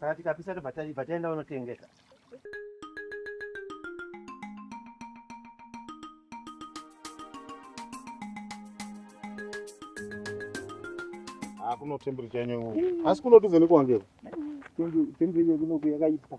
Saka tikapisa tobva taenda unotengesa. Hakuna temperature yenyu. Asi kunoti vhenekwa ngeke. Temperature kunoti yakaipa.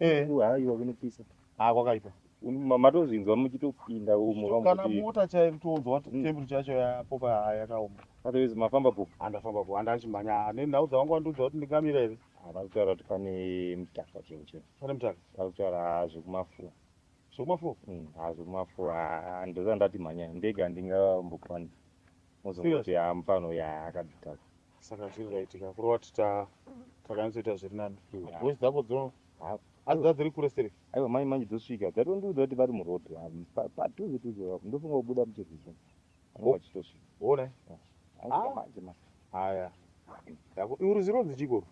Eh, haiwa kunopisa. Ah kwakaipa. Um, matozvinzwa muchitopinda umo kana mota chaiyo kutonzwa kuti mm. temperature yacho yapopa yakaoma otherwise mafamba po andafamba po anda achimhanya ane nhau dzavangu vandiudza kuti ndingamira here ah, vari kutaura kuti pane mutaka chero chero pane mutaka vari kutaura ah, zvekumafuwa zvekumafuwa mm, ha ah, zvekumafuwa ndozandati mhanya ndega ndingambokwanisa mozongoti ha mufano ya akadzitaka saka zvinhu zvaitika kuri wati takanyatsoita zviri nani voice dzako dzino asi dzadziri kure seri aiwa mai manje dzosvika dzatondiudza kuti vari muroad padhuze dhuze vapo ndofunga kubuda muchirwizi vachitosvika one manje manje haya iuruzironzi chikoro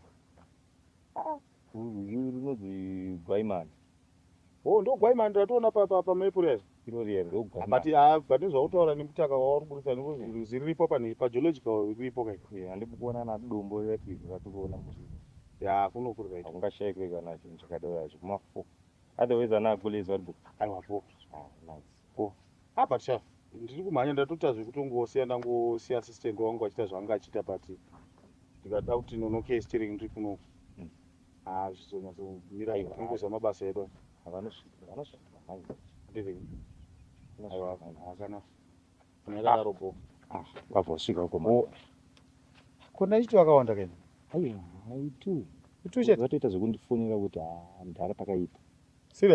Rwizi runonzi Gwaimani. Oh, ndo Gwaimani ratoona pa pa pa map rero. Iro riya ndo Gwaimani. But ah, but nezvautaura nemutaka wauri kuritsa nekuti rwizi riripo pa pa geological riripo kai. Yeah, handiko kuona na dombo rati rati kuona musi. Yeah, kuno kuri right. Ungashayikwe kana chinhu chakadaro chikuma 4. Otherwise ana agulezwa ribo. Aiwa po. Ah, nice. ko ah but sha ndiri kumhanya ndatoita zvekutongosiya ndangosiya assistant wangu achita zvaanga achiita but ndikada kuti nonoke steering ndiri kuno hmm. ah zvizonyatsomira tinongoziva mabasa edu akana nyakadaro bo ah, vabva vasvika uko oh. ko ndaichiti vakawanda kaini aiwa haitu ituchatoita zvekundifonera kuti ah, mdhara pakaipa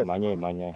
mhanyai mhanyai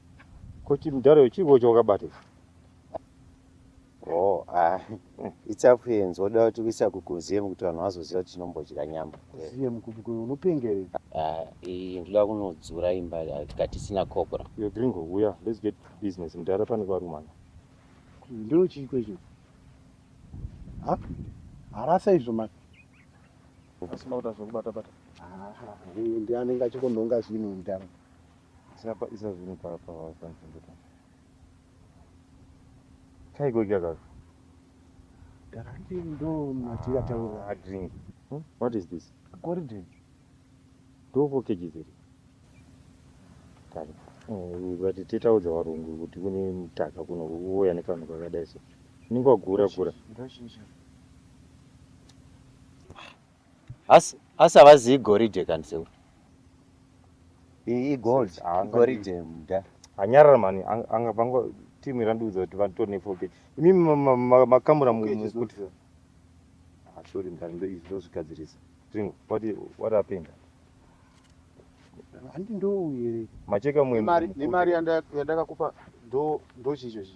Koti mdara uyu chiriko chawakabata ichi. Oh, ah. It's up here nzoda kuti kuisa kukuziye kuti vanhu vazoziva kuti tinombodya nyama. Ziye mukubiko unopengere. Ah, iyi ndoda kunodzura imba ah, tikati sina cobra. Yo gringo uya, let's get business mdara pane varumana. Ndiro chiiko icho? Ha? Harasa izvo mani. Asi makuta zvokubata bata. Ah, ndiye anenge achikonhonga zvinhu mdara. Sapa isa zvinhu pa pa pa nzvimbo pa. Chaiko iki akazo. Ndakati ndo matira taura. Ah, drink. Hmm? What is this? Kori drink. Do for kg zero. Tani. Oh, ukati titaudza varungu kuti kune mutaka kuno uya nekanhu kakadai so. Ninga gura gura. Ndoshinja. Asi asi havazi igoridhe kani sekuru. I- Igold. Ah, Igoridhe muda. Anyarara mani ang- anga vangu team irandiudza kuti vatori nefoke. Imi ma- ma- ma- makamura mu- mu- kuti Ah, sorry mdara ndo izvi ndozvigadzirisa. Tringo, what i- what happened? Handi ndouye. Macheka mwe. Nemari nemari yanda- yandakakupa ndo ndochicho chi.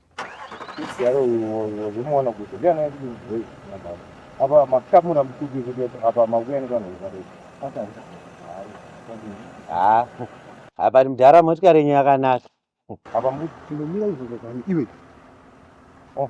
apa makamura mukubi kuti apa makuya nevanhu vekadai ha apa mudhara motikari yenyu yakanaka apa mukuti tinomira izvo zvekani iwe oh.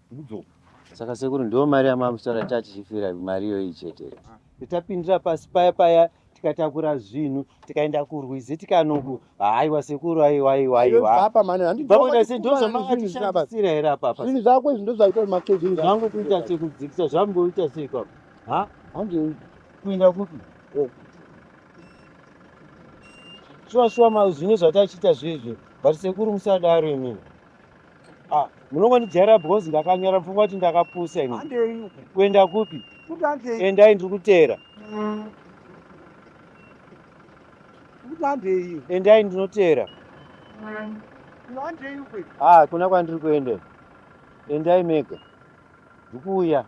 Saka sekuru ndiyo mari yamamusora tachifira mari iyoyi chete. Tapindira pasi paya paya tikatakura zvinhu tikaenda kurwizi tikanoku haiwa sekuru aiwa aiwa aiwa. Apa mani handi. Vakuita se ndozo makati shandisira here apa apa. Zvinhu zvako izvi ndozo aita makeji. Zvinhu zvangu kuita se kudzikisa zvamboita se kwa. Ha? Handi kuenda kupi? Oh. Shuwa shuwa ma zvine zvatachiita zvezve. But sekuru musadaro imini. Ah, munongondijaira because ndakanyara pfungwa kuti ndakapusa ini kuenda kupi endai ndiri kuteera endai ndinoteera ha ah, kuna kwandiri kuenda endai mega ndikuuya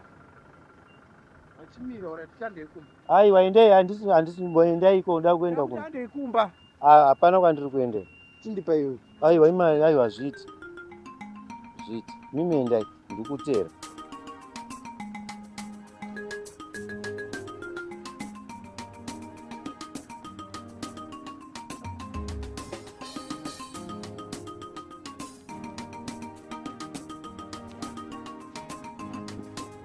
aiwa endai handisi handisi mboendai ko nda kuenda ku ndandei kumba ah, hapana kwandiri kuenda chindipa iwe aiwa ima aiwa zviti zviti mimi endai ndikutera